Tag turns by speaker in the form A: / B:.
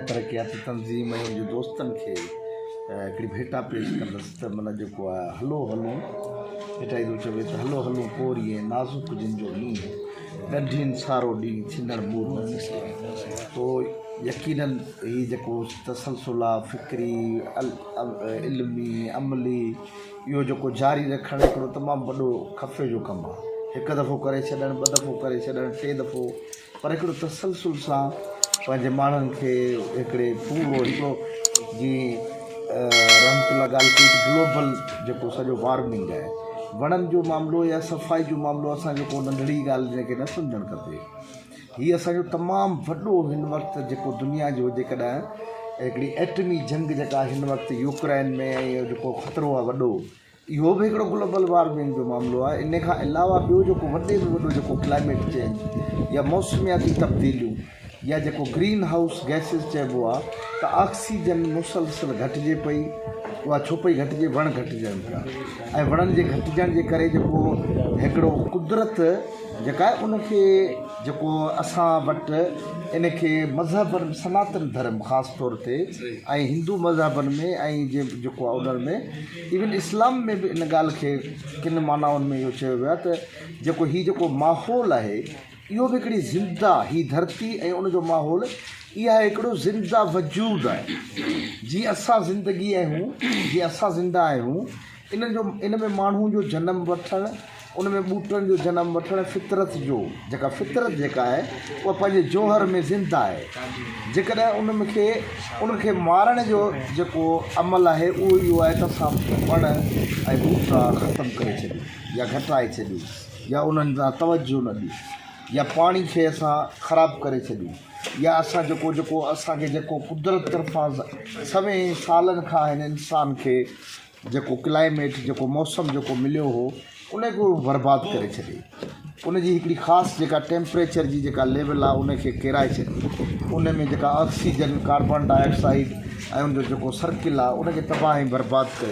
A: ترقياتي تنظيم ۽ ان جي دوستن کي هڪڙي ڀيٽا پيش ڪندس ته من جيڪو آهي هلو هلون ڀيٽائي ٿو چوي ته هلو هلون پوري ۽ نازڪ جن جو ڏينهن ڳنڍين سارو ڏينهن ٿيندڙ مور تو يقينن هي جيڪو تسلسل آهي فڪري علمي عملي اهو جيڪو جاري رکڻ هڪڙو تمام وڏو خفي جو ڪم آ هڪ دفعو ڪري ڇڏڻ ٻه دفعو ڪري ڇڏڻ ٽي دفعو پر هڪڙو تسلسل سان پنهنجي ماڻهن کي هڪڙي پورو هڪڙو جي رحمت الله ڳالهه ڪئي گلوبل جيڪو سڄو وارمنگ آهي وڻن جو معاملو يا صفائي جو معاملو اسان جيڪو ننڍڙي ڳالهه جنهن کي نه سمجهڻ کپي هي اسان جو تمام وڏو هن وقت جيڪو دنيا جو جيڪڏهن هڪڙي ايٽمي جنگ جيڪا هن وقت يوڪرين ۾ ۽ جيڪو خطرو آهي وڏو اهو به هڪڙو گلوبل وارمنگ جو معاملو آهي ان کان علاوه ٻيو جيڪو وڏي ۾ وڏو جيڪو ڪلائميٽ چينج يا موسمياتي تبديليون يا جيڪو گرين هائوس گئسز چئبو آهي ته آڪسيجن مسلسل گهٽجي پئي اها ڇو پئي گهٽجي وڻ گهٽجن پيا ۽ وڻن جي گهٽجڻ جي ڪري جيڪو هڪڙو قدرت جيڪا ان کي جيڪو اسان وٽ ان کي مذهبن سناتن ڌرم خاص طور تي ۽ هندو مذهبن ۾ ۽ جي جيڪو آهي انهن ۾ ايون اسلام ۾ به ان ڳالهه کي ڪن معنائن ۾ اهو چيو ويو آهي ته جيڪو هي جيڪو ماحول آهي اهو به هڪڙي زنده هي ڌرتي ۽ ان جو ماحول اها هڪڙو زنده وجود آهي جيئن اسان زندگي آهيون جيئن اسان زنده آهيون ان جو ان ۾ ماڻهو جو جنم وٺڻ، ان ۾ ٻوٽن جو جنم وٺڻ، فطرت جو جيڪا فطرت جيڪا آهي اها پنهنجي جوهر ۾ زنده آهي، جيڪڏهن ان م کي ان کي مارڻ جو جيڪو عمل آهي اهو اهو آهي ته اسان وڻ ۽ ٻوٽا ختم ڪري ڇڏيون يا گهٽائي ڇڏيون يا انهن ڏانهن توجهه نه ڏيون يا پاڻي کي اسان خراب ڪري ڇڏيون يا اسان جيڪو جيڪو اسان کي جيڪو قدرت طرفان سوين سالن کان هن انسان کي جيڪو ڪلائميٽ جيڪو موسم جيڪو مليو هو ان کي برباد ڪري ڇڏي ان جي هڪڙي خاص جيڪا ٽيمپريچر جي جيڪا ليول آهي ان کي ڪيرائي ڇڏي ان ۾ جيڪا آڪسيجن ڪاربان ڊاء آڪسائيڊ ۽ ان جو جيڪو سرڪل آهي ان کي تباهه ۽ برباد ڪري